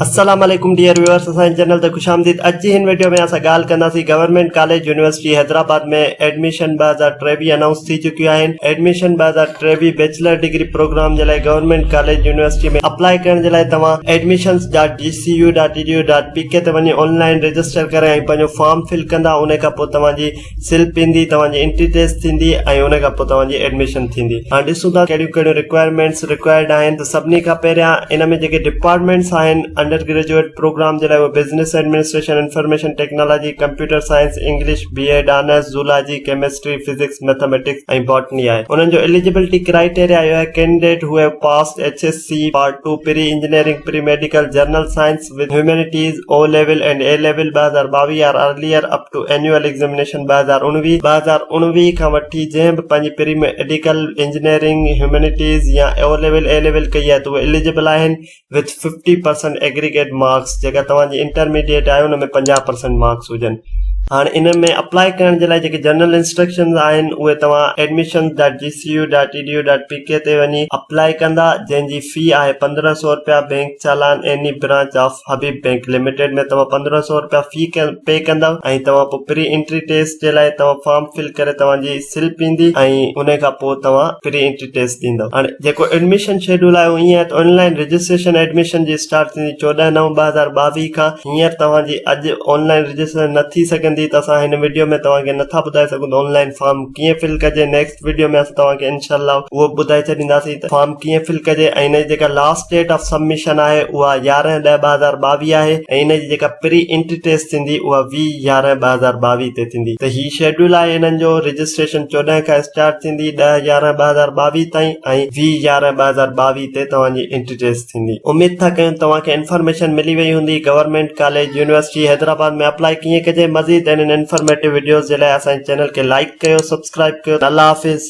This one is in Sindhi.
السلام عليڪم ڊيئر ويورس اسان جي چينل تي خوش آمديد اڄ جي هن ويڊيو ۾ اسان ڳالهه ڪنداسين government college university Hyderabad ۾ admission ٻه هزار ٽيويهه انائونس ٿي چڪيون آهن ايڊميشن ٻه هزار ٽيويهه بيچلر ڊگري پروگرام جي لاء گورنمينٽ ڪاليج يونيورسٽي ۾ اپلاء ڪرڻ جي لاء توهان admissions dot G C U dot E D U dot P K تي وڃي آن لائن رجسٽر ڪري ۽ پنهنجو فارم فل ڪندا ان کان پوء توهان جي سلپ ايندي توهان جي انٽري ٽيسٽ ٿيندي ۽ ان کان پوء توهان جي ايڊميشن ٿيندي هاڻ ڏسون ٿا ڪهڙيون ڪهڙيون رڪوائرمينٽس رڪوائرڊ آهن ته سڀني کان پهريان ان ۾ جيڪي ڊپارٽمينٽس آهن انڊر گريجوئيٽ پروگرام جي لاء اهي business administration information technology computer science English B Ed honours zoology chemistry physics mathematics ۽ botany آهي انهن جو اليجبلٽي ڪرائيٽيريا اهو آهي ڪينڊيڊيٽ هو هيو passed H S C part two pre engineering pre medical general science with Humanities O Level and A Level ٻه هزار ٻاويهه are earlier up to Annual Examination ٻه هزار اڻويهه ٻه هزار اڻويهه کان وٺي جنهن به پنهنجي پري ميڊيڪل، انجنيئرنگ، هيومينيٽيز يا O Level، A Level ڪئي آهي ته اهي اليجبل آهن with fifty percent aggregate marks جيڪا توهان جي انٽرميڊيئيٽ آهي ان ۾ پنجاهه پرسنٽ مارڪس هجن هاڻ ان ۾ اپلائي ڪرڻ جي لاء جيڪي جنرل انسٽرڪشنز آهن اهي توهان Admissions dot G C U dot E D U dot P K تي وڃي اپلائي ڪندا جنهن جي في آهي پندرهن سؤ رپيا bank challan any branch of Habib bank limited ۾ توهان پندرهن سؤ رپيا في پي ڪندا ۽ توهان پوء پري انٽري ٽيسٽ جي لاء توهان فارم فل ڪري توهان جي سلپ ايندي ۽ ان کان پوء توهان پري انٽري ٽيسٽ ڏيندو هاڻي جيڪو ايڊميشن شيڊول آهي اهو ائين آهي ته آن لائين رجسٽريشن ايڊميشن جي اسٽارٽ ٿيندي چوڏهن نو ٻه هزار ٻاويهه کان هينئر توهان جي اڄ آن لائين رجسٽريشن نه ٿي سگهندي ته اسان هن وڊيو ۾ توهان کي نٿا ٻڌائي سگهون ته آن لائين فارم ڪيئن فل ڪجي نيڪسٽ وڊيو ۾ اسان توهان کي انشاء الله اهو ٻڌائي ڇڏينداسين ته فارم ڪيئن فل ڪجي ۽ ان جي جيڪا لاسٽ ڊيٽ آف سبمشن آهي اها يارهن ڏهه ٻه هزار ٻاويهه آهي ۽ ان جي جيڪا پري انٽري ٽيسٽ ٿيندي اها ويهه يارهن ٻه هزار ٻاويهه تي ٿيندي ته هي شيڊيول آهي هنن جو رجسٽريشن چوڏهن کان اسٽارٽ ٿيندي ڏهه يارهن ٻه هزار ٻاويهه تائين ۽ ويهه يارهن ٻه هزار ٻاويهه تي توهان جي انٽري ٽيسٽ ٿيندي. اميد ٿا ڪيون توهان کي انفارميشن ملي وئي هوندي government college university Hyderabad ۾ apply ڪيئن ڪجي مزيد اهڙين انفارميٽو وڊيوز جي لاء اسان جي چينل کي لائيڪ ڪيو سبسڪرائيب ڪيو الله حافظ.